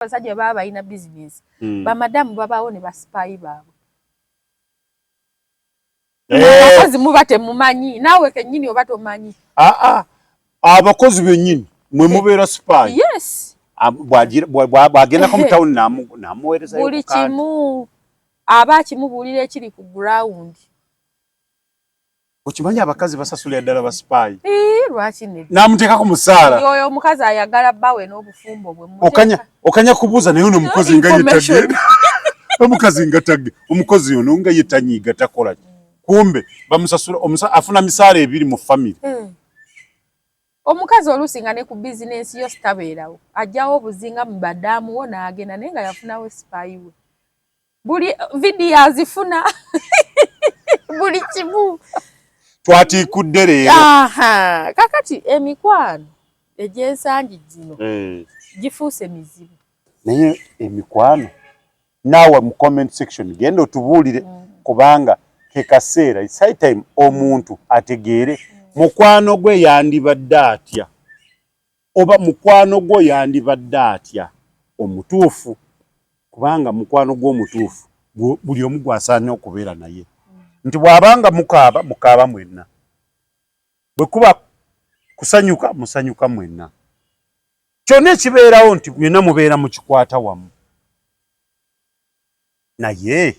abasajja baba balina bizinensi hmm. bamadamu babaawo ne basipaayi baabwe eh. abakozi muba temumanyi naawe kennyini oba tomanyi ah, ah. abakozi bennyini mwe eh. mubeera sipaayi yes bwagendako mu tawuni namuwerezayo buli kimu aba akimubuulira ekiri ku gurawundi Okimanyi abakazi basasulira ddala ba spy. Eh, lwaki ne. Namuteeka ku musaala. Yoyo omukazi ayagala bawe n'obufumbo bwe muteka. Okanya okanya kubuza naye ono mukozi nga yetagge. Omukazi nga tagge. Omukozi ono nga yetanyiga takola. Mm. Kumbe bamusasula omusa afuna misaala ebiri mu family. Mm. Omukazi olusi nga ne ku business yo stabeerawo. Ajjawo obuzinga mu badamu wo naagenda naye nga yafunawo spy we. buli vidiyo azifuna buli kimu twatiikudde leero kakati emikwano egyensangi gino eh. gifuuse mizibu naye emikwano naawe mu comment section genda otubuulire mm. kubanga kekaseera its high time omuntu ategeere mm. mukwano gwe yandibadde atya Oba mukwano gwo yandibadde atya omutuufu kubanga mukwano gwo omutuufu buli omu gwasaanye okubeera naye nti bw'aba nga mukaaba mukaaba mwenna bwe kuba kusanyuka musanyuka mwenna kyonna ekibeerawo nti byonna mubeera mukikwata wamu naye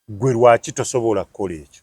gwe lwaki tosobola kukola ekyo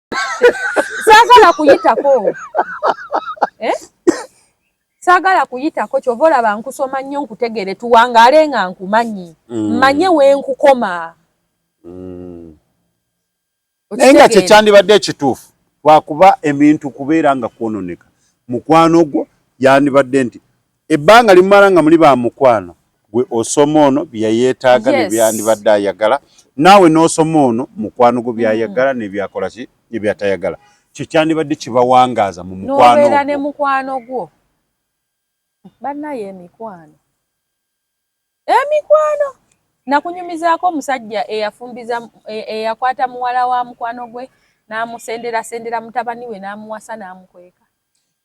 saagala kuyitako eh? saagala kuyitako kyova olaba nkusoma nnyo nkutegere tuwangaale nga nkumanyi mm. manye wenkukoma mm. naye nga kyekyandibadde ekituufu lwakuba ebintu kubeera nga kwononeka mukwano gwo yandibadde nti Ebbanga limumala nga muli ba mukwano gwe osoma ono byeyetaaga yes. nebyandibadde ayagala naawe n'osoma ono mukwano gwo byayagala mm. nebyakola ki nebyatayagala kyo kyandibadde kibawangaaza mu mukwanobeera ne mukwano gwo bannayo emikwano emikwano nakunyumizaako omusajja eyafumbiza e, eyakwata muwala wa mukwano gwe n'amusenderasendera mutabani we n'amuwasa n'amukweka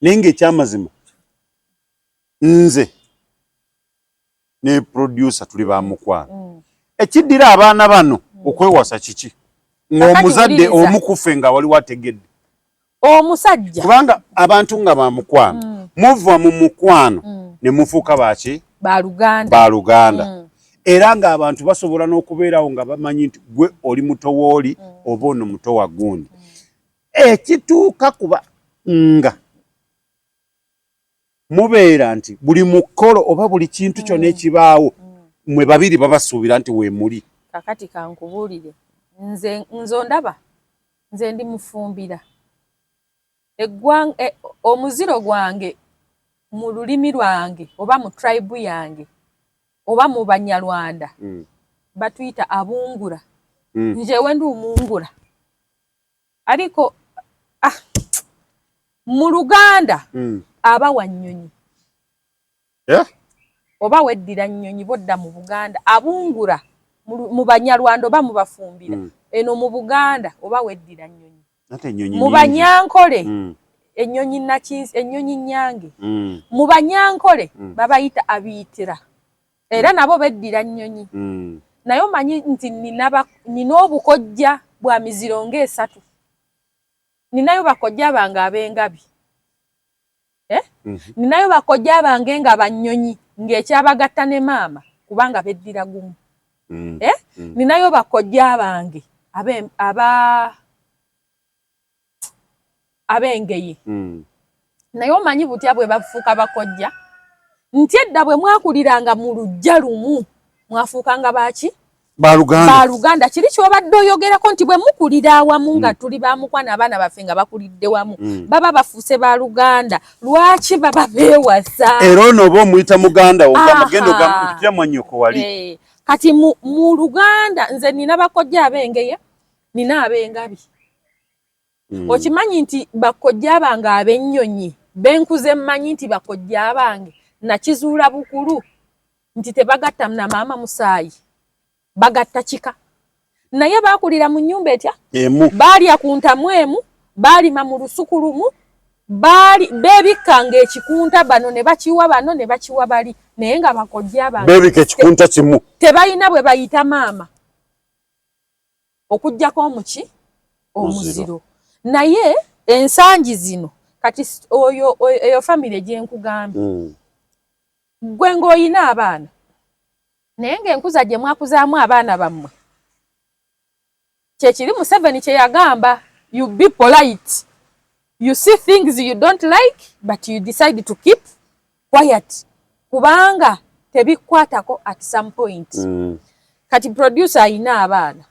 naye ngaekyamazima nze ne producer tuli ba mukwano mm. ekiddira abaana bano mm. okwewasa kiki ng'omuzadde omukufe nga waliwo ategedde omusajja kubanga abantu nga ba mukwano mm. muva mu mukwano mm. ne mufuuka baki baluganda ba luganda mm. era ng'abantu basobola n'okubeerawo nga bamanyi nti gwe oli muto wooli mm. oba ono muto wa gundi mm. ekituuka kuba nga mubeera nti buli mukolo oba buli kintu kyona mm. ekibaawo mm. mwe babiri babasuubira nti wemuli kakati kankubuulire nze nze ondaba nze ndi mufumbira eggwanga e, omuziro gwange mu lulimi lwange oba mu tribe yange oba mu banyarwanda mm. batuyita abungura mm. njewe ndi umungura ariko ah, mu luganda mm. aba wa nnyonyi yeah? oba weddira nnyonyi bodda mu buganda abungura mu banyarwanda oba mubafumbira mm. eno mu buganda oba weddira nnyonyi mu banyankole mm. ennyonyi nakinsi ennyonyi nyange mm. mu banyankole mm. babayita abiyitira era mm. nabo beddira nnyonyi mm. naye omanyi nti nina obukojja bwa miziro nga esatu ninayo bakojja bange ab'engabi eh? mhm. ninayo bakojja bange nga bannyonyi ng'ekyabagatta ne maama kubanga beddira gumu mm. Eh? ninayo bakojja bange aba ab'engeye hmm. naye omanyi butya bwe bafuuka bakojja nti edda bwe mwakuliranga mu lujja lumu mwafuukanga baaki baluganda kiri kyobadde oyogerako nti bwe mukulira awamu nga mm. tuli bamukwana abaana baffe nga bakulidde wamu mm. baba bafuuse baluganda lwaki baba bewasa era ono oba omuyita muganda ogamugenda mwanyoko wali eh, kati mu luganda nze nina bakojja abengeye nina abengabi mm. okimanyi nti bakojja abange abennyonyi benkuze mmanyi nti bakojja abange nakizuula bukulu nti tebagatta na maama musaayi bagatta kika naye baakulira mu nnyumba etya emu baalya ku ntamu emu baalima mu lusuku lumu baali beebikkanga ekikunta bano ne bakiwa bano ne bakiwa bali naye nga bakojja abange beebika ekikunta kimu tebalina bwe bayita maama okujjako omuki omuziro naye ensangi zino kati oyo eyo famire gyenkugambye hmm. gwe ngaolina abaana naye ngaenkuza gye mwakuzaamu abaana bammwe kyekiri museveni kyeyagamba you be polite you see things you don't like but you decide to keep quiet kubanga tebikwatako at some point mm. kati producer ayina abaana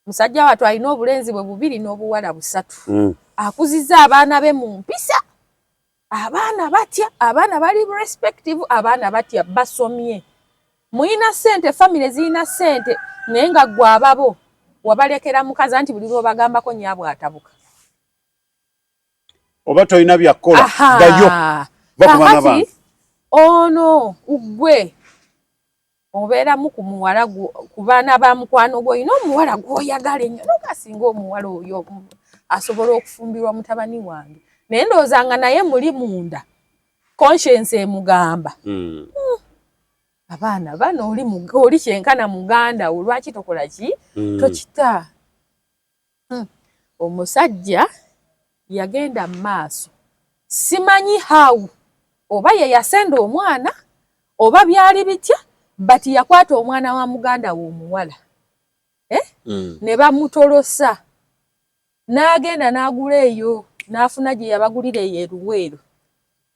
musajja watu alina obulenzi bwe bubiri n'obuwala busatu mm. akuziza abaana be mu mpisa abaana batya abaana bali respective abaana batya basomye muyina sente famire zirina sente naye nga gwe ababo wabalekera mukazi anti buli lwobagambako nyabwe atabuka oba tolina byakkola dayo kakati ono ugwe obeeramu ku muwala ku baana ba mukwano gwe olina omuwala gwoyagala ennyo nogasinga omuwala oyo asobola okufumbirwa mutabani wange naye ndowooza nga naye muli munda conscience emugamba hmm. Hmm. abaana bano oli kyenkana muganda wo lwaki tokola ki hmm. tokita Hmm. Omusajja yagenda mu maaso, simanyi how oba ye yasenda omwana oba byali bitya, but yakwata omwana wa muganda we omuwala eh? mm. ne bamutolosa n'agenda n'agula eyo n'afuna gye yabagulira eyo eruweero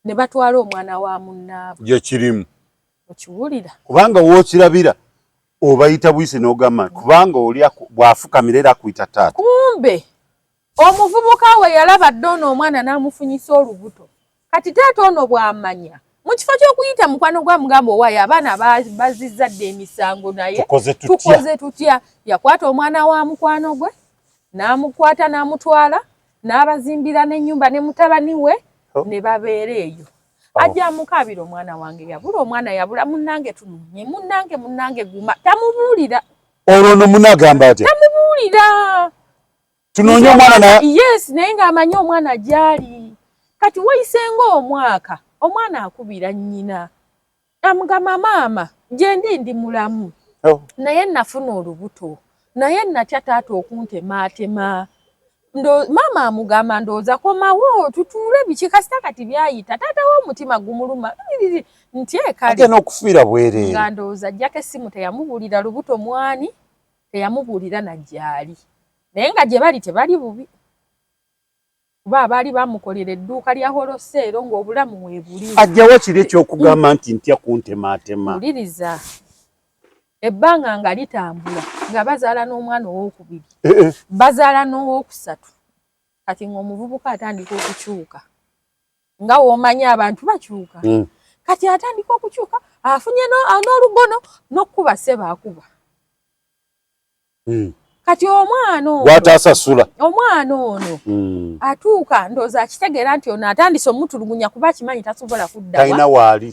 ne batwala omwana wa munnaabwe. Gye kirimu. Okiwulira? Kubanga w'okirabira obayita buyisi n'ogamba kubanga oli bw'afukamira era akuyita taata. Kumbe omuvubuka we yalaba dda ono omwana n'amufunyisa olubuto. Kati taata ono bw'amanya mu kifo ky'okuyita mukwano gwa mugamba owaayo abaana bazizza dda emisango naye tukoze tutya yakwata omwana wa mukwano gwe n'amukwata n'amutwala n'abazimbira n'ennyumba ne mutabani we oh. ne babeera eyo oh. ajja amukaabira omwana wange yabula omwana yabula munnange tununye munnange munnange guma tamubuulira olwo no munagamba atya tamubuulira tunoonye omwana na yes naye ng'amanyi omwana gyali kati wayisenga omwaka omwana akubira nnyina Amugamba maama gyendi ndi mulamu oh. naye nafuna olubuto naye natya taata okuntematema maama amugamba ndowooza komawo tutuule biki kasita kati byayita taata wo omutima gumuluma nti ekalina okufiira bwereere nga ndowooza ajjako essimu teyamubuulira lubuto mwani teyamubuulira najjaali naye nga gye bali tebali bubi kuba abaali bamukolera edduuka lya holoseero ng'obulamu weebuli. Ajjawa kiri eky'okugamba nti ntya kuntemaatema? Wuliriza. Ebbanga nga litambula nga bazaala n'omwana ow'okubiri, eh, eh. bazaala n'ow'okusatu, kati ng'omuvubuka atandika okukyuka nga w'omanyi abantu bakyuka hmm. kati atandika okukyuka afunye n'olugono n'okukuba seba akuba hmm. kati omwana ogwatasasula omwana ono hmm. atuuka ndooza akitegeera nti ono atandise omutulugunya kuba akimanyi tasobola kuddatalina waali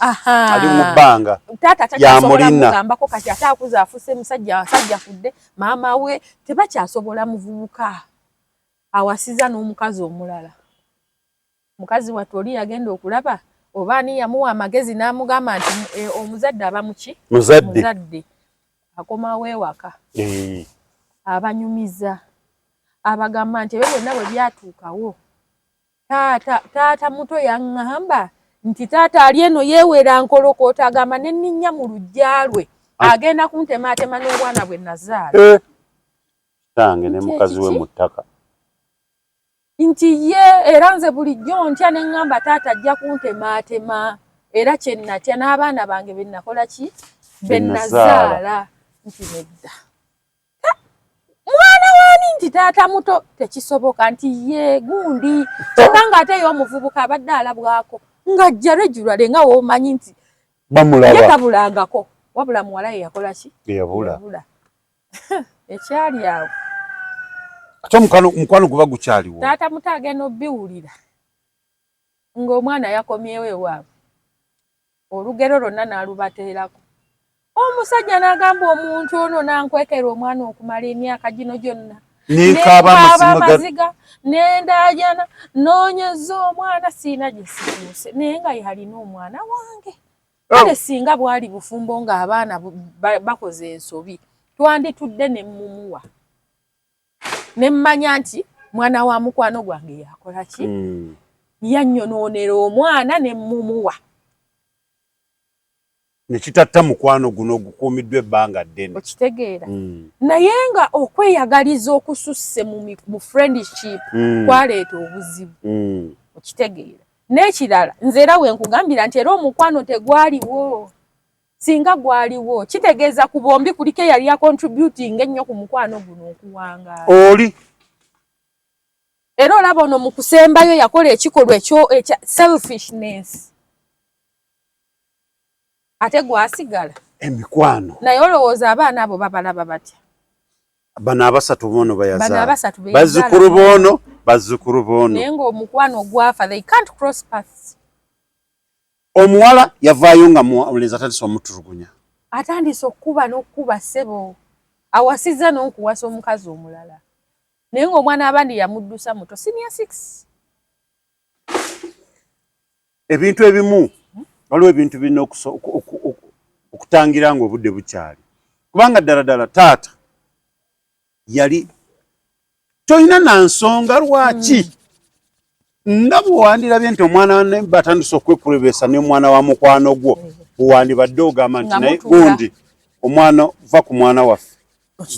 ali mu bbanga taata takyasobolamugambako kati ate akuza afuse musajja asajja fudde maama we tebakyasobola muvubuka awasiza n'omukazi omulala Mukazi wattu oli yagenda okulaba oba ani yamuwa amagezi n'amugamba nti e, omuzadde aba muki muzadde akomawo ewaka eh. abanyumiza abagamba nti ebyo byonna bwe byatuukawo taata taata muto yaŋŋamba nti taata ali eno yeewera nkolokoota agamba ne nninnya mu luggya lwe ah. agenda kuntemaatema n'obwana bwe nazaala eh. kitange ne mukazi we mu ttaka nti ye era nze bulijjo ntya ne ŋŋamba taata ajja kuntemaatema era kye nnatya n'abaana bange be nnakola ki be nnazaala nti nedda mwana waani nti taata muto tekisoboka nti ye gundi kyokka ng'ate ye omuvubuka abadde alabwako ng'ajja regulale nga woomanyi nti ye tabulangako wabula muwala ye yakola ki eyabula ekyali awo ate omukwano guba gukyaliwo taata muto agenda obiwulira ng'omwana yakomyewo ewaabwe olugero lwonna n'alubateerako omusajja n'agamba omuntu ono nankwekera omwana okumala emyaka gino gyonna nekaaba amaziga nendaajana noonyeza omwana siina gye situuse naye nga yalina omwana wange oh. kale singa bwali bufumbo nga abaana bakoze ensobi twanditudde ne mumuwa ne mmanya nti mwana wa mukwano gwange yakola ki hmm. yannyonoonera omwana ne mumuwa nekitatta mukwano guno ogukuumiddwa ebbanga ddene okitegeera hmm. naye nga okweyagaliza okususse mu friendship hmm. kwaleeta obuzibu okitegeera N'ekirala nze era we nkugambira nti era omukwano tegwaliwo singa gwaliwo kitegeeza ku bombi kuliko eyali ya contributing ennyo ku mukwano guno okuwangaala oli era olaba ono mu kusembayo yakola ekikolwa ekyo ekya selfishness ate gwasigala emikwano naye olowooza abaana abo babalaba batya bano abasatu bono bayazaala bazzukulu bono bazzukulu bono naye ng'omukwano ogwafa they can't cross paths omuwala yavaayo nga mulenzi atandise omutulugunya atandise okukuba n'okukuba ssebo awasizza n'okuwasa omukazi omulala naye ng'omwana abandi yamuddusa muto senior six ebintu ebimu waliwo ebintu birina okutangira nga obudde bukyali kubanga ddala ddala taata yali tolina na nsonga lwaki hmm. nga bwewandirabye nti omwana batandise okwekurebesa nomwana wa mukwano gwo bwewandibadde ogamba nti naye gundi omwana va ku mwana waffe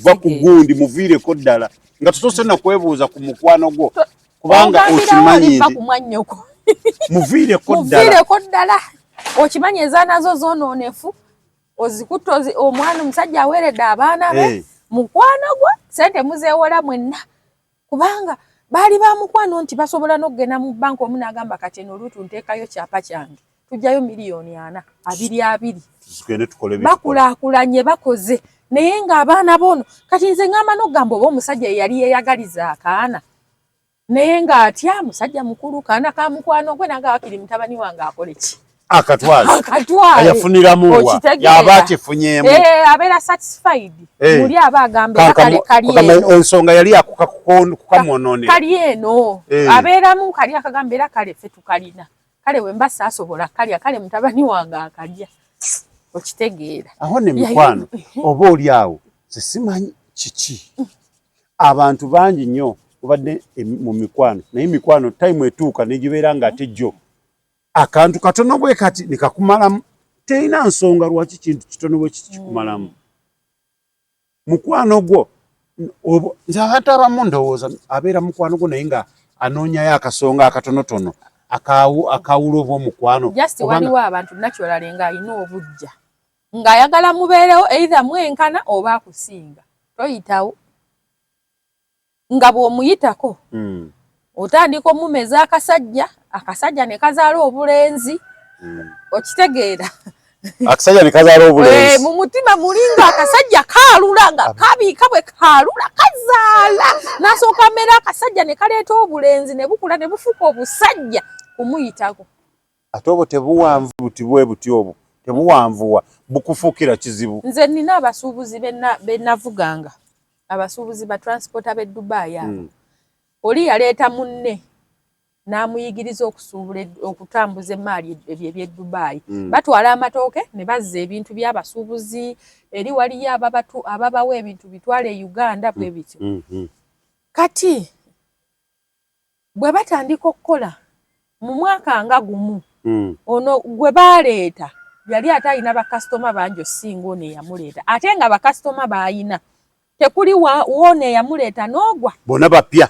va ku gundi muviireko ddala nga tusoose na kwebuuza ku mukwano gwo kubanga okimanyi muviireko ddala okimanyi ezanazo zononefu ozikutte omwana omusajja aweeredde abaana be mukwano gwo sente muzeewola mwenna kubanga baali ba mukwano nti basobola n'okugenda mu bbanka omu n'agamba kati eno oluutu nteekayo kyapa kyange tujjayo miliyoni ana abiri abiri bakulaakulanye bakoze naye ng'abaana boono kati nze ngamba n'okugamba oba omusajja yeyali yeeyagaliza akaana naye ng'atya musajja mukulu kaana ka mukwano gwe nanga wakiri mutabani wange akole ki akatwala akatwala yafuniramu wa yaba akifunyemu eh abera satisfied hey. Eh. muli aba agambe kali kali kama ensonga yali akuka kukamonone kali eno hey. Eh. abera mu kali akagambe la kale fe tukalina kale wemba sasobola kali kale mutabani wange akalya okitegeera aho ne mikwano oba oli awo sisimanyi kiki abantu bangi nnyo obadde mu mikwano naye mikwano time etuuka negibeera nga ate jjo akantu katono bwe kati nekakumalamu terina nsonga lwaki kintu kitono bwe kiti kikumalamu mukwano gwo nze abantu abamu ndowooza abeera mukwano gwo naye nga anoonyayo akasonga akatonotono akawula oba omukwano just waliwo abantu naturally nga alina obujja ng'ayagala mubeerewo eitha mwenkana oba akusinga toyitawo nga bw'omuyitako otandika omumeza akasajja akasajja ne kazaala obulenzi okitegeera akasajja ne kazaala obulenzi eh, mu mutima mulinga akasajja kaalula nga kabiika bwe kaalula kazaala n'asooka amera akasajja ne kaleeta obulenzi ne bukula ne bufuuka obusajja kumuyitako Ate obwo tebuwanvu buti bwebuti obwo tebuwanvuwa bukufuukira kizibu. Nze nina abasuubuzi benavuganga abasuubuzi ba transporta be Dubai abo mm. oli yaleeta munne n'amuyigiriza okusuubula okutambuza emmaali ebyo eby'e Dubai mm. batwala amatooke ne bazza ebintu by'abasuubuzi eri waliyo ababatu ababawa ebintu bitwala e Uganda bwe mm. bityo mm. mm. kati bwe batandika okukola mu mwaka nga gumu mm. ono gwe baleeta yali ate alina bakasitoma bangi osinga ono eyamuleeta ate nga bakasitoma baalina tekuli woono eyamuleeta n'ogwa bona bapya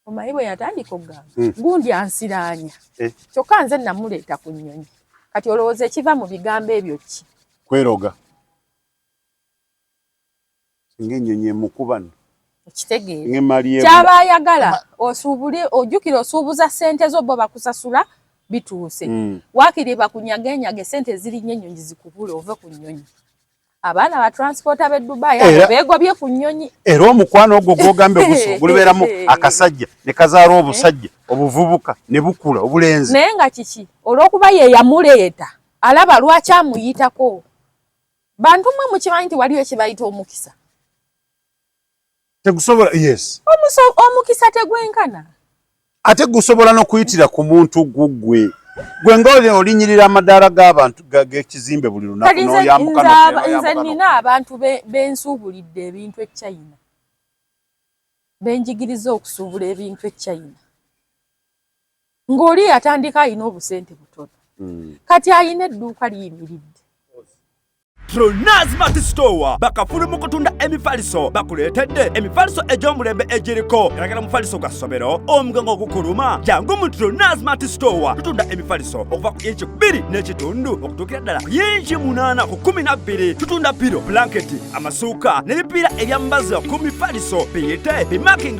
omanyi bwe yatandika okugamba mm. gundi ansiraanya eh. kyokka nze namuleeta ku nnyonyi kati olowooza ekiva mu bigambo ebyo ki kweroga Singa ennyonyi emukuba nno. Okitegeera. Kyaba ayagala osuubule ojjukire osuubuza ssente zo bo bakusasula bituuse. Mm. Waakiri bakunyageenyage ssente ezirinnye ennyonyi zikubule ove ku nnyonyi. abaana ba transport abe dubai abo begobye ku nyonyi era omukwano ogwo gwogambe guso gulibeeramu akasajja ne kazaala obusajja obuvubuka ne bukula obulenzi naye nga kiki olwokuba ye yamuleeta alaba lwaki amuyitako bantu mwe mukimanyi nti waliwo ekibayita omukisa tegusobola yes omuso omukisa tegwenkana ate gusobola n'okuyitira ku muntu gugwe gwe nga olinyirira amadaala g'abantu g'ekizimbe buli lunaku noyambukanze nina abantu bensuubulidde ebintu e china benjigiriza okusuubula ebintu e china ng'oli eyatandika alina obusente butono hmm. kati alina edduuka liyimiridde Tronaz Mati Store bakafulu mu kutunda emifaliso bakuleetedde emifaliso egy'omulembe egiriko galagala mufaliso gwa ssomero omugongo ogukuluma jangu mu Tronaz Mati Store tutunda emifaliso okuva ku inchi bbiri n'ekitundu okutuukira ddala ku inchi munaana ku kumi na bbiri tutunda piro blanketi amasuuka n'ebipiira ebyambaza ku mifaliso biyite bimaking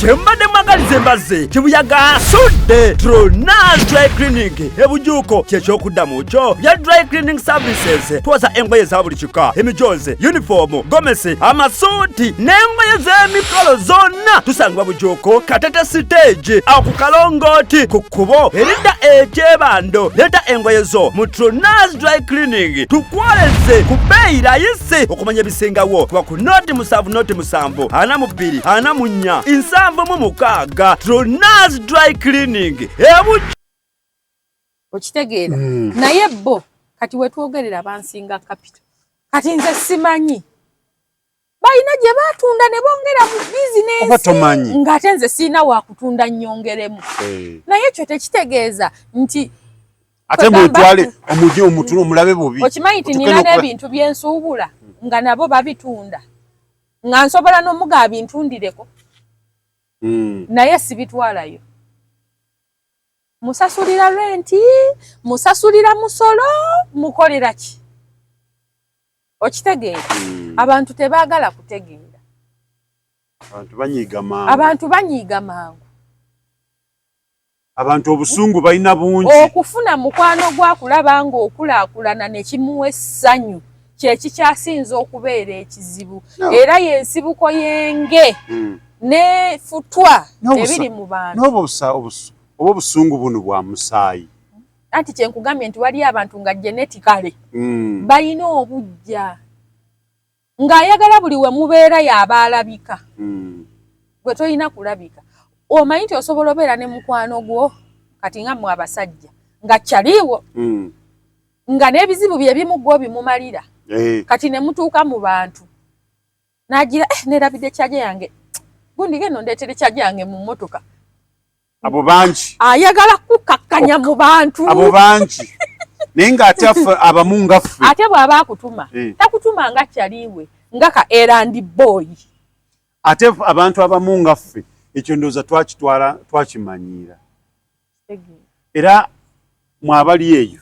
kyembadde mwagaliza embazze kibuyaga asudde tronas dry clinic ebujuuko kyekyokuddamu kyo bya dry cleaning services twoza engoye za buli kika emijoozi yunifoomu gomesi amasuuti n'engoye z'emikolo zonna tusangibwa bujuuko katete siteegi awo ku kalongooti ku kkubo eridda ekyebando leeta engoye zo mu tronas dry cleaning tukwoleze ku bbeeyi layisi okumanya ebisingawo kuba ku noti musanvu noti musanvu ana mu bbiri ana mu nnya nsanvu mu mukaaga tronas dry cleaning ebu okitegeera hmm. naye bo kati wetwogerera bansinga kapito kati nze simanyi balina gye batunda ne bongera mu bizinensi ng'ate nze sirina wakutunda nnyongeremu eh. naye ekyo tekitegeeza nti ate mwetwale omuje omutula omulabe bubi okimanyi ti nina n'ebintu byensuubula nga nabo babitunda nga nsobola n'omuga abintundireko hmm. naye sibitwalayo musasulira renti musasulira musolo mukolera ki okitegeera hmm. abantu tebaagala kutegeera abantu banyiiga mangu abantu obusungu balina bungi okufuna mukwano gwakulaba nga okulakulana nekimuwa essanyu kyekikyasinza okubeera ekizibu era yensibuko yenge hmm. ne futwa ebiri mu bantu oba obusungu buno bwa musaayi anti kyenkugambye nti waliyo abantu nga geneticale hmm. balina obujja ng'ayagala buli we mubeera y'aba alabika hmm. gwe tolina kulabika omanyi nti osobola obeera ne mukwano gwo kati nga mwe abasajja nga kyaliiwo hmm. nga n'ebizibu bye bimu gwo bimumalira eh. kati ne mutuuka mu bantu n'agira eh, nerabidde kyaja yange gundi geno ndeetere kyaja yange mu mmotoka abo bangi ayagala kukakkanya mu bantu abo bangi naye ng'ate affe abamu nga ffe ate bw'aba akutuma eh. takutuma nga kyaliwe nga ka erandi booyi ate abantu abamu nga ffe ekyo ndowooza twakitwala twakimanyiira era mwabali eyo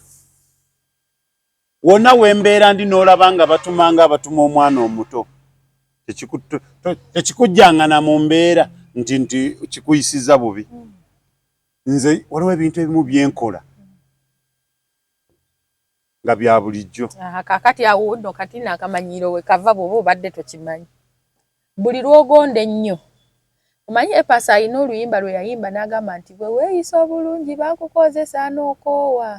wona wembeera ndi n'olaba nga batuma nga abatuma omwana omuto tekikujjangana mu mbeera nti nti kikuyisiza bubi nze waliwo ebintu ebimu byenkola nga bya bulijjo kakati awo no kati nakamanyiiro wekava bwoba obadde tokimanyi buli lwogonda ennyo omanyi epasa alina oluyimba lwe yayimba n'agamba nti bwe weeyisa obulungi bakukozesa n'okoowa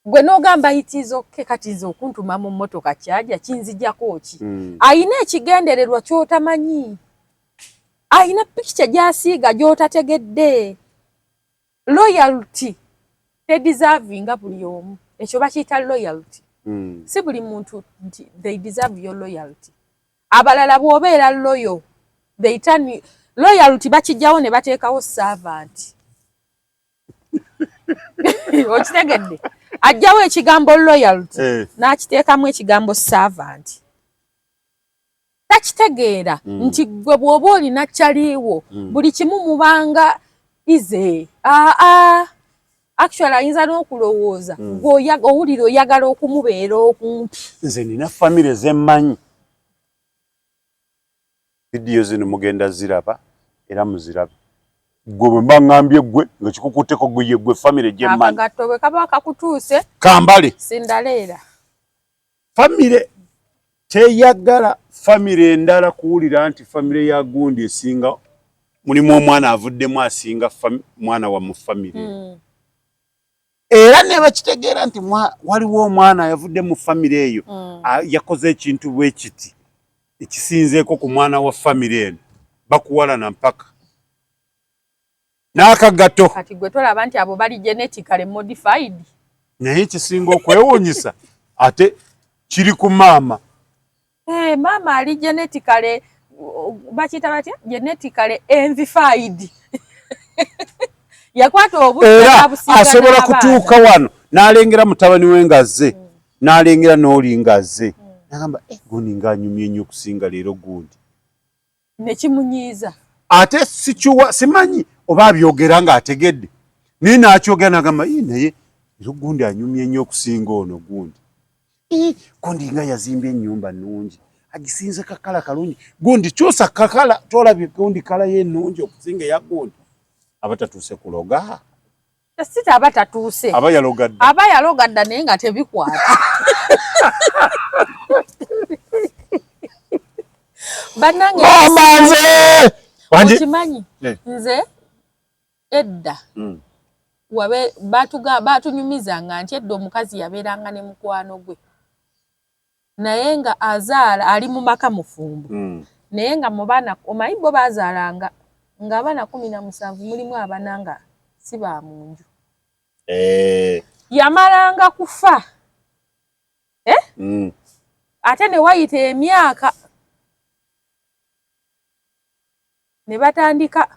Gwe nogamba it is ok kati nze okuntuma mu motoka kyaja kinzijako ki mm. ayina ekigendererwa kyotamanyi ayina picture gyasiiga gyotategedde loyalty tedeservinga buli omu ekyo bakiyita loyalty mm. si buli muntu nti they deserve your loyalty abalala bwobeera loyo they turn loyalty bakijjawo ne bateekawo servant okitegedde ajjawo ekigambo loyalty eh. n'akiteekamu ekigambo servant takitegeera mm. nti gwe bw'oba olina kyaliiwo mm. buli kimu mubanga ize aa ah, ah. actually ayinza n'okulowooza mm. owulira oyagala okumubeera okumpi nze nina famire zemmanyi Vidiyo zino mugenda ziraba era muzirabe. Gwe bwe mba ngambye gwe nga kikukutteko gwe ye gwe famire gye mmanyi. Akagatto bwe kaba kakutuuse. Kambale. Sindaleera. Famire teyagala famire endala kuwulira nti famire ya gundi esinga mulimu omwana avuddemu asinga mwana wa mu famire. Mm. era ne bakitegeera nti waliwo omwana yavudde mu famire eyo mm. yakoze ekintu bwe kiti ekisinzeeko ku mwana wa famire eno bakuwalana mpaka n'akagato kati gwe tolaba nti abo bali genetically modified naye ekisinga okwewuunyisa ate kiri ku maama Hey, eh, maama ali genetically bakiyita batya genetically envified yakwata obudera asobola kutuuka wano n'alengera mutabani we ngazze mm. n'alengera n'oli ngazze mm. nagamba eh, gundi ng'anyumye nnyo okusinga leero gundi nekimunyiiza ate sikiwa simanyi oba abyogera nga ategedde naye nakyogera nagamba i naye era gundi anyumye nnyo okusinga ono gundi gundi nga yazimbye ennyumba nungi agisinze kakala kalungi gundi kyusa kakala tolabye gundi kala ye nungi okusinga eya gundi abatatuuse kuloga Sita aba tatuuse. Aba yalogadda. Aba yalogadda naye nga tebikwata. Banange. Mama nze. Wanje. Uchimanyi. Yeah. Nze. Edda. Mm. Wabe batuga batunyumiza nga nti edda omukazi yaberanga ne mukwano gwe. naye nga azaala ali mu maka mufumbo mm. naye nga mu baana omanyi bo bazaalanga ng'abaana kumi na musanvu mulimu abana nga si ba mu nju eh. yamalanga kufa eh? mm. ate ne wayita emyaka ne batandika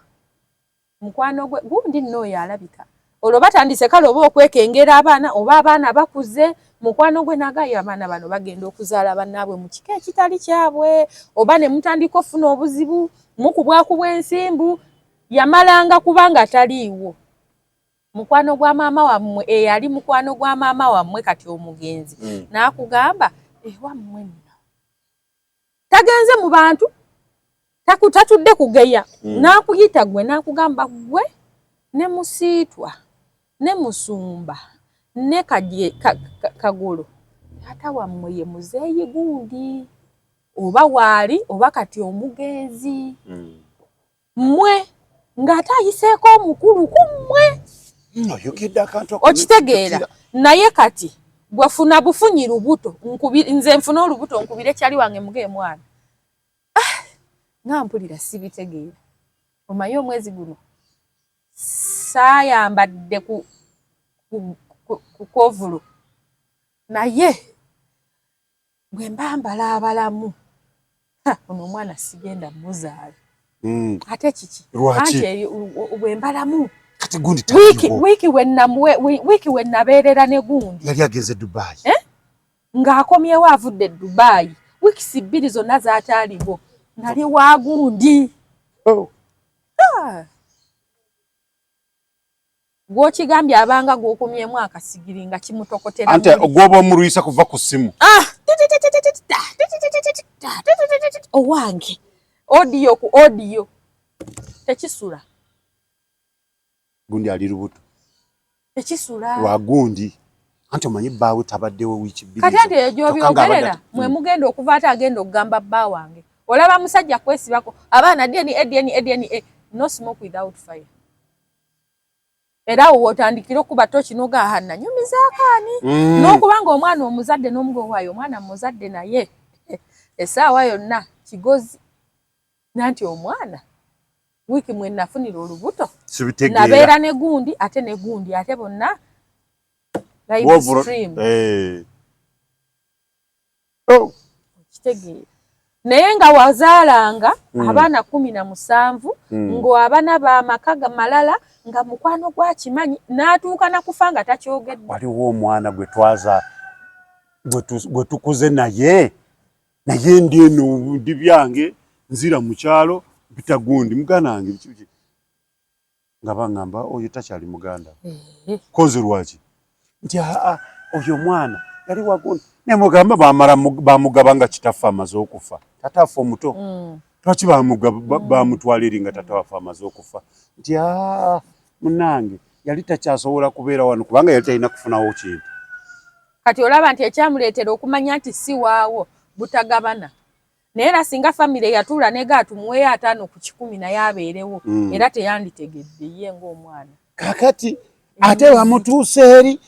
mukwano gwe gundi nno oyo alabika olwo batandise kale oba okwekengera abaana oba abaana bakuze mukwano gwe nagayo abaana bano bagenda okuzaala bannaabwe mu kika ekitali kyabwe oba ne mutandika okufuna obuzibu mukubwakubwa ensimbu yamalanga kubanga taliiwo mukwano gwa maama wammwe eyali mukwano gwa maama wammwe kati omugenzi mm. n'akugamba ewammwe nno tagenze mu bantu tatudde kugeya mm. nakuyita gwe nakugamba gwe ne musiitwa ne musumba ne kagulu taata wammwe ye muzeeyi gundi oba waali oba kati omugenzi mm. mmwe ng'ate ayiseeko omukulu ku mmwe okitegeera naye kati gwefuna bufunyi lubuto nze nfuna olubuto nkubire kyali wange muga emwana ah, nga mpulira sibitegeera omaye omwezi guno saayambadde ku kukovulu naye bwe mba mbala abalamu ono omwana sigenda muzaala hmm. ate kiki anti bwe mbalamu wiiki we nabeerera ne gundi yali agenze dubayi eh? ng'akomyewo avudde dubayi wiikisi bbiri zonna zataaliwo nali wa gundi oh. ah. gwokigambye abanga gwokomyemu akasigiri nga kimutokotera ante ogwoba omulwisa kuva ku simu ah, owange odiyo ku odiyo tekisula gundi ali lubuto tekisula lwagundi anti omanyi bbaawe tabaddewo wiiki bbiri kati ati egyobyogerera mwe hmm. mugenda okuva ate agenda okugamba bba wange olaba musajja kwesibako abaana dna dna dna no smoke without fire era awo wotandikira okuba toki nogaha nanyumizaako ani mm. n'okuba nga omwana omuzadde n'omuga owaayo omwana muzadde naye essaawa yonna kigozi nanti omwana wiiki mwe nafunira olubuto nabeera ne gundi ate ne gundi ate bonna live stream hey. Eh. oh. okitegeera naye nga wazaalanga mm. abaana kumi na musanvu mm. ng'abana bamaka malala nga mukwano gwakimanyi n'atuuka nakufa nga takyogedde waliwo omwana gwe twaza gwe tukuze naye naye ndi eno ndi byange nzira mu kyalo mpita gundi mugana wange nga bangamba oyo takyali muganda kozi lwaki nti aa oyo mwana yali wagon nemugamba bamala bamugaba nga kitaffe amaze okufa tata affe omuto mm. twaki bamutwala eri nga tata waffe amaze okufa nti aa munange yali takyasobola kubeera wano kubanga yali talina kufunawo kintu kati olaba nti ekyamuleetera okumanya nti si waawo butagabana naye era singa famire yatuula nega atumuweeyo ataano ku kikumi naye abeerewo mm. era teyanditegedde ye ngaomwana kakati mm. ate bamutuusa eri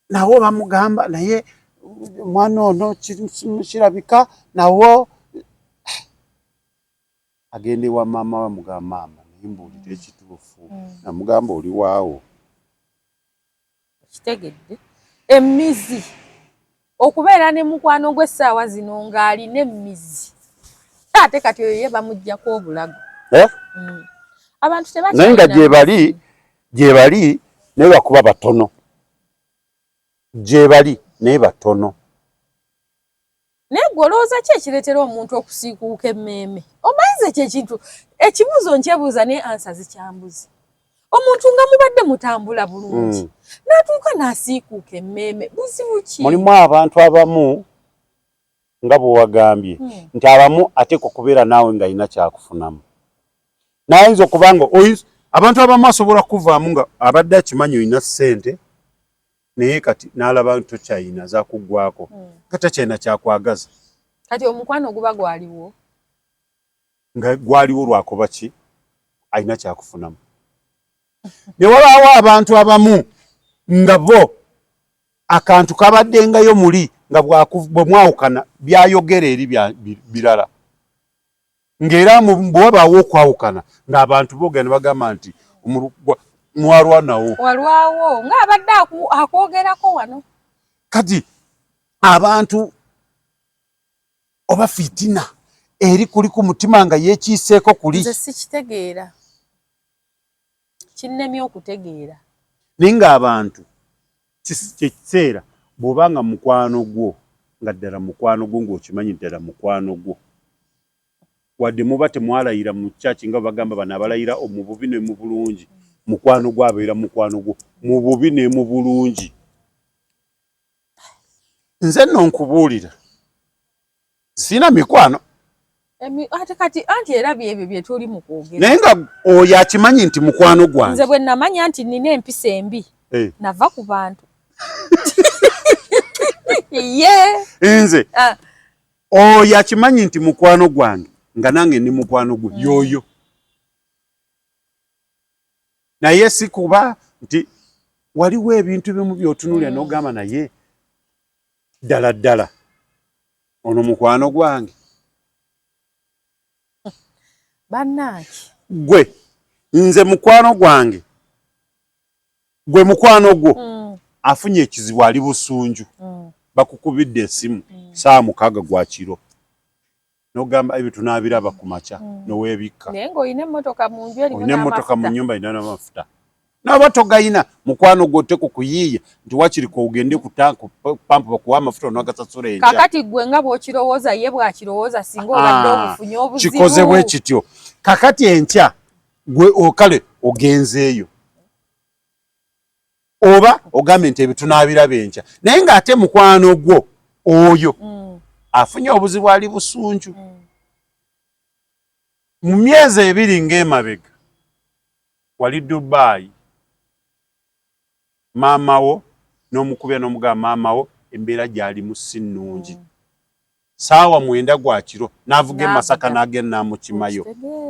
nawo bamugamba naye omwana ono kirabika nawo agenda ewa maama bamugamba maama naye mbuulira ekituufu mm. namugamba oli waawo Okitegedde? Emmizi. Okubeera ne mukwano gwe essaawa zino ng'alina emmizi. Ate kati oyo ye bamuggyako obulago. Eh? Mm. Abantu tebakyalina. Naye nga gyebali, gyebali naye lwakuba batono. Gyebali naye batono. Naye gwe olowooza ki ekireetera omuntu okusiikuuka emmeeme? Omanyi nze ekyo ekintu ekibuuzo nkyebuuza naye ansa zikyambuzi. Omuntu nga mubadde mutambula bulungi mm. n'atuuka n'asiikuuka emmeeme buzibu ki? Mulimu abantu abamu nga bwe wagambye mm. nti abamu ateekwa okubeera naawe ng'alina kyakufunamu. Naye ayinza okuba nga abantu abamu asobola kuvaamu nga abadde akimanyi olina ssente naye kati nalaba nti tokyayina zakuggwako hmm. kati takyayina kyakwagaza kati omukwano oguba gwaliwo nga gwaliwo lwakuba ki alina kyakufunamu newabaawo abantu abamu nga bo akantu kabaddengayo muli nga bwemwawukana byayogera eri birala ng'era bwe wabaawo okwawukana ng'abantu boogera ne bagamba nti mwalwanawo walwawo ng'abadde akwogerako wano kati abantu oba fitina eri kuli ku mutima nga yekiiseeko kuli sikitegeera kinnemye okutegeera. Naye ng'abantu kye kiseera bw'oba nga mukwano gwo nga ddala mukwano gwo ng'okimanyi nti ddala mukwano gwo wadde muba temwalayira mu church nga bagamba bano abalayira mu bubi ne mu bulungi mukwano gwo abeera mukwano gwo mu bubi ne mu bulungi nze nno nkubuulira sina mikwano ate kati anti era byebyo byetuli mu kwogera naye nga oyo akimanyi nti mukwano gwange nze bwe namanya nti nina empisa embi hey. Eh. nava ku bantu ye nze ah. oyo akimanyi nti mukwano gwange nga nange ndi mukwano gwe mm. yoyo naye si kuba nti waliwo ebintu bimu byotunulira mm. nogamba naye ddala ddala ono mukwano gwange banange gwe nze mukwano gwange gwe mukwano gwo mm. afunye ekizibu ali busunju mm. bakukubidde esimu mm. saa mukaga gwa kiro nogamba ebyo tunabiraba ku makya mm. nowebikka naye nga olina emmotoka mu nju erimu olina emmotoka mu nyumba erina n'amafuta naba togayina mukwano gwote ku kuyiiya nti wakiri kogende ku tanku pampu bakuwa amafuta onagasasula enkya kakati gwe nga bwokirowooza ye bwakirowooza singa obadde ah, obufunye obuzibu kikoze bwe kityo kakati enkya gwe okale ogenzeeyo oba ogambye nti ebyo tunaabiraba enkya naye ng'ate mukwano gwo oyo mm. afunye obuzibu ali busunju mm. mu myezi ebiri ng'emabega wali dubaayi maama wo n'omukubya n'omugaba maama wo embeera gyalimu si nnungi mm. Ssaawa mwenda gwa kiro n'avuga e Masaka n'agenda n'amukimayo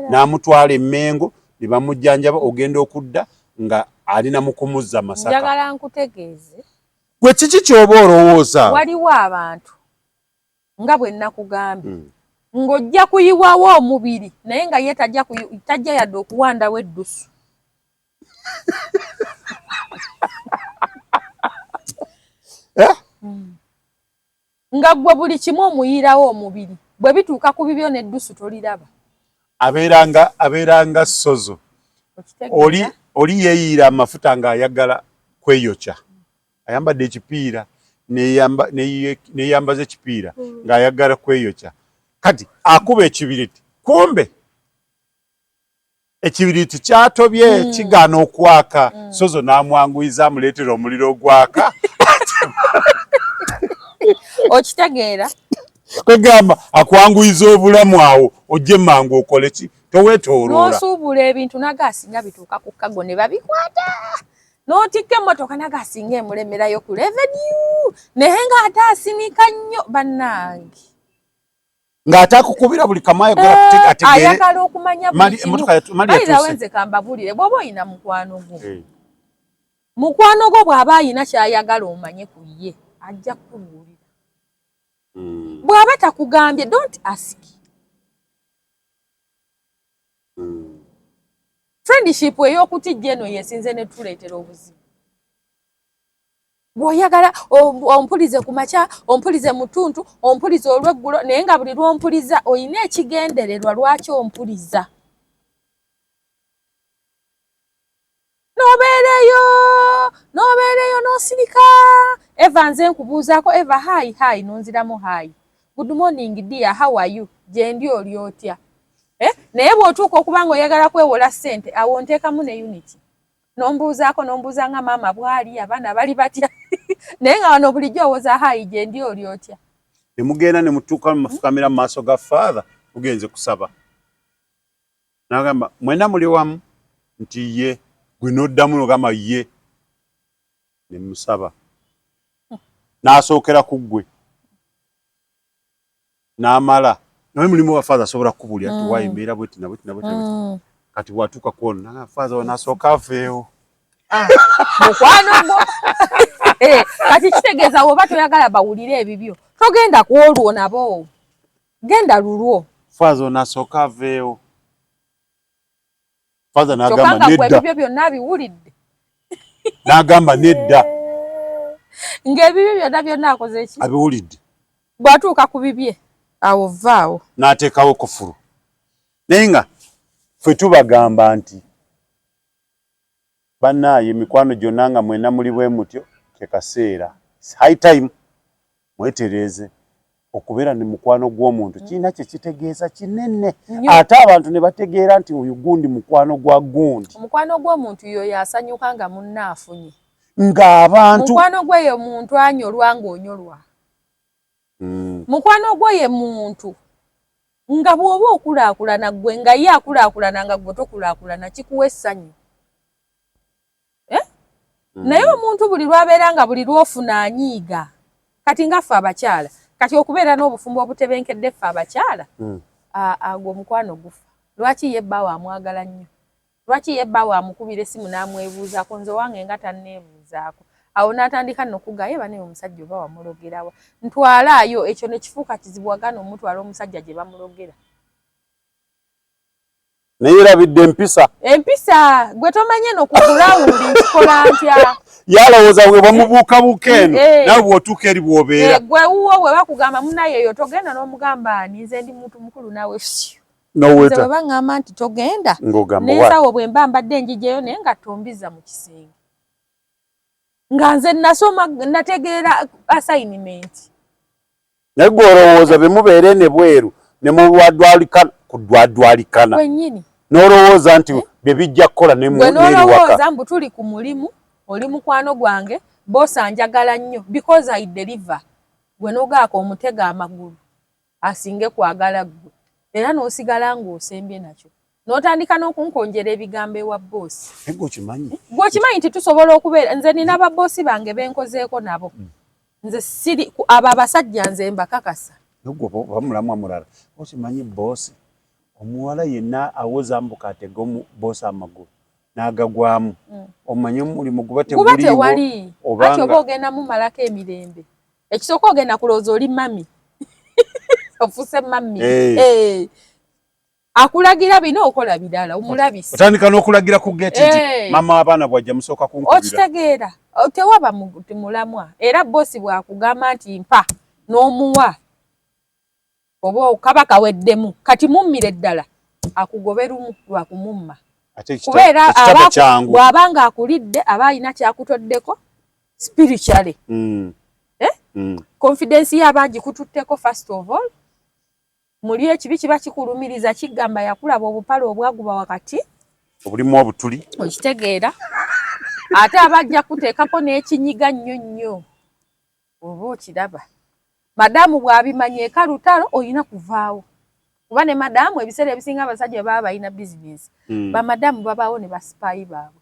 n'amutwala e Mmengo ne bamujjanjaba ogenda okudda nga ali na mu kumuzza Masaka. Njagala nkutegeeze. Ggwe kiki ky'oba olowooza? Waliwo abantu nga bwe nnakugambye. Mm. ng'ojja kuyiwawo omubiri naye nga ye tajja yadde okuwandawo eddusu eh? hmm. Nga ggwe buli kimu omuyiirawo omubiri, bwe bituuka ku bibyo n'eddusu toliraba. Abeeranga, abeeranga ssozo. Oli, oli yeeyiira amafuta ng'ayagala kweyokya. Ayambadde ekipiira, neyambaza ekipiira hmm. ng'ayagala kweyokya. Kati akuba ekibiriti, kumbe. ekibiriiti kyatobye mm. kigaana okwaka mm. sozo n'amwanguyiza amuleetera omuliro ogwaka okitegeera kwegamba akwanguyiza obulamu awo ojje mangu okole ki towetololnosuubula ebintu naga asinga bituuka ku kago ne babikwata notikka emmotoka naga asinga emuremerayo ku revenue naye nga ate asinika nnyo bannange ng'atakukubira buli kamu ayogera eh, kutegeereayagala okumanya buliawenze kambabulire bw'oba olina mukwano gwo eh. mukwano gwo bw'aba alina ky'ayagala omanye ku ye ajja kukubuulira hmm. bw'aba takugambye don't ask hmm. friendship ey'okutijja eno yesinze ne tuleetera obuzibu bwoyagala ompulize ku makya ompulize mutuntu ompulize olweggulo naye nga buli lwompuliza olina ekigendererwa lwaki ompuliza nobeereyo nobeereyo nosirika eva nze nkubuuzaako eva hai hai nonziramu hai good morning dia how are you gyendi oli otya eh? naye bwotuuka okuba nga oyagala kwewola sente awo nteekamu ne unity nombuuzaako nombuuza nga maama bwali abaana bali batya naye nga wano bulijjo owoza hayi gyendi oli otya nemugenda nemutuuka mumafukamira mumaaso ga father mugenze kusaba nagamba mwena muli wamu nti ye gwe noddamu nogamba ye nemusaba nasookera ku ggwe namala nawe mulimu wa father asobola kukubulira mm. tuwaye mbeera bweti na bweti na bweti mm. kati bwatuuka kwona nanga father wona asooka aveewo ah, mukwano gwo eh, kati kitegeeza woba toyagala bawulire ebibyo togenda ku olwo nabo genda lulwo father wona asooka aveewo father nagamba nedda ebibyo byonna abiwulidde nagamba nedda ng'ebibyo byonna byonna akoze eki abiwulidde bwatuuka ku bibye awo vvaawo n'ateekawo kufulu naye nga ffe tubagamba nti Banaye mikwano gyona nga mwena muli bwemutyo kyekaseera it's high time mwetereeze okubeera ne mukwano gwomuntu kirina kyekitegeeza kinene ate abantu nebategeera nti oyo gundi mukwano gwa gundi omukwano gwomuntu yoyo asanyuka nga munne afunye nga abantu mukwano gweyo muntu anyolwa nga onyolwa mm. mukwano gwo ye muntu nga bw'oba okulaakulana ggwe nga ye akulaakulana nga ggwe tokulaakulana kikuwa essanyu eh? mm. naye omuntu buli lwabeera nga buli lwofuna anyiiga kati nga ffe abakyala kati okubeera n'obufumbo obutebenkedde ffe abakyala mm. agwo omukwano gufa lwaki ye bbaawo amwagala nnyo Lwaki ye bbaawe amukubira essimu n'amwebuuzaako nze owange nga tanneebuuzaako? Awo n'atandika nno okugaa ye banaye omusajja oba wamulogera wa? Ntwalaayo! Ekyo ne kifuuka kizibu wagaana omutwala omusajja gye bamulogera. Naye erabidde empisa. Empisa gwe tomanye no ku ground nkikola ntya? Yalowooza bwe bamubuukabuuka eno eh. nawe bw'otuuka eri bw'obeera. Eh, gwe wuwo bwe bakugamba munaye eyo togenda n'omugamba ani nze ndi muntu mukulu nawe fyu. noweta baba ngamba nti togenda nensawo bwe mba mbadde njijeyo naye nga tombiza mu kisenge nga nze nasoma nategeera assignment naye gwe olowooza bemubeere ne bweru ne mudwadwalikana ku dwadwalikana kwenyini nolowooza nti eh? bye bijja kukola nenolowooza mbu tuli ku mulimu oli mukwano gwange bosa njagala nnyo because i deliver gwe nogaaka omutega amagulu asinge kwagala ggwe era n'osigala ng'osembye nakyo n'otandika n'okunkonjera ebigambo ewa bboosi gwe okimanyi nti tusobola okubeera nze nina babboosi bange be nkozeeko nabo hmm. nze siri abo abasajja nze mbakakasa omulamwa mulala okimanyi bboosi omuwala yenna awoza mbuka atega bboosi amagulu n'agagwamu hmm. omanye omulimu guba teguliwo oba ogenda mumalako emirembe ekisooka ogenda kulowooza oli mami ofuse mami hey. hey. akulagira bino okola birala omulabisi otandika n'okulagira ku geti nti hey. mama abaana bwajja musooka kunkubira okitegeera tewaba mulamwa era bosi bwakugamba nti mpa n'omuwa Oba okaba kaweddemu kati mummire ddala akugobe lumu lwa kumumma kuba era bw'aba ng'akulidde aba alina kyakutoddeko spiritually mm. Eh? Mm. confidence ye aba agikututteko first of all muli ekibi kiba kikulumiriza kigamba yakulaba obupale obwaguba wakati obulimu obutuli okitegeera ate aba ajja kuteekako n'ekinyiga nnyo nnyo oba okiraba madamu bwabimanya eka lutalo olina kuvaawo kuba ne madamu ebiseera ebisinga abasajja baba balina bizinesi hmm. bamadamu babaawo ne basipaayi baabwe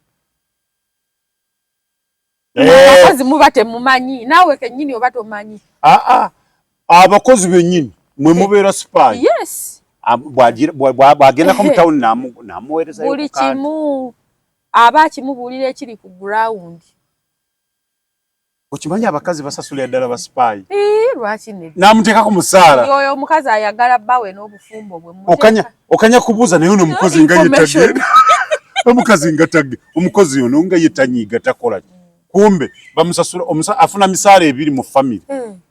eh. abakozi muba temumanyi naawe kennyini oba tomanyi ah, ah. abakozi bennyini mwe mubeera sipaayi bwagendako mu tawuni namuweerezayo buli kimu aba akimubuulira ekiri ku gurawundi Okimanyi abakazi basasulira ddala ba spy. Eh, lwaki ne. Namuteeka ku musaala. Yoyo omukazi ayagala bawe n'obufumbo bwe muteka. Okanya okanya kubuza naye no mukozi nga yetagenda. Omukazi nga tagge omukozi yono nga yetanyiga takola. Kumbe bamusasula omusa afuna misaala ebiri mu family. Hmm.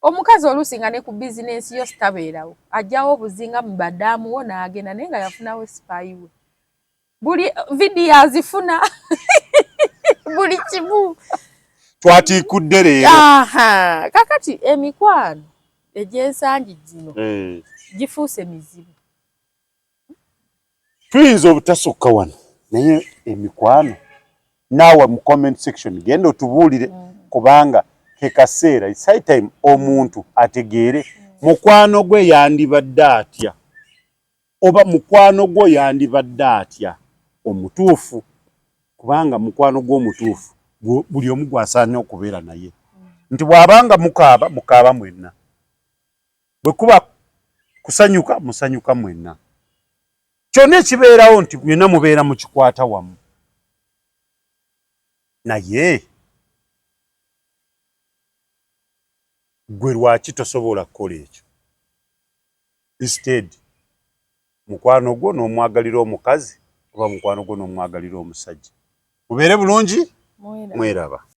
Omukazi olusi nga ne ku business yo staberawo. Ajawo obuzinga mu badamu wona agenda naye nga yafunawo spy we. buli video azifuna buli kimu twatiikudde leero kakati emikwano egyensangi gino eh. gifuuse mizibu tuyinza obutasukka wano naye emikwano naawe mu comment section genda otubuulire mm. kubanga kekaseera its high time omuntu ategeere mm. mukwano gwe yandibadde atya Oba mukwano gwo yandibadde atya omutuufu kubanga mukwano gwo omutuufu buli omu gwasaanye okubeera naye nti bwabanga mukaaba mukaaba mwenna bwe kuba kusanyuka musanyuka mwenna kyonna ekibeerawo nti byonna mubeera mukikwata wamu naye gwe lwaki tosobola kukola ekyo Instead mukwano gwo nomwagalira omukazi oba mukwano gwo nomwagalira omusajja mubeere bulungi mweraba.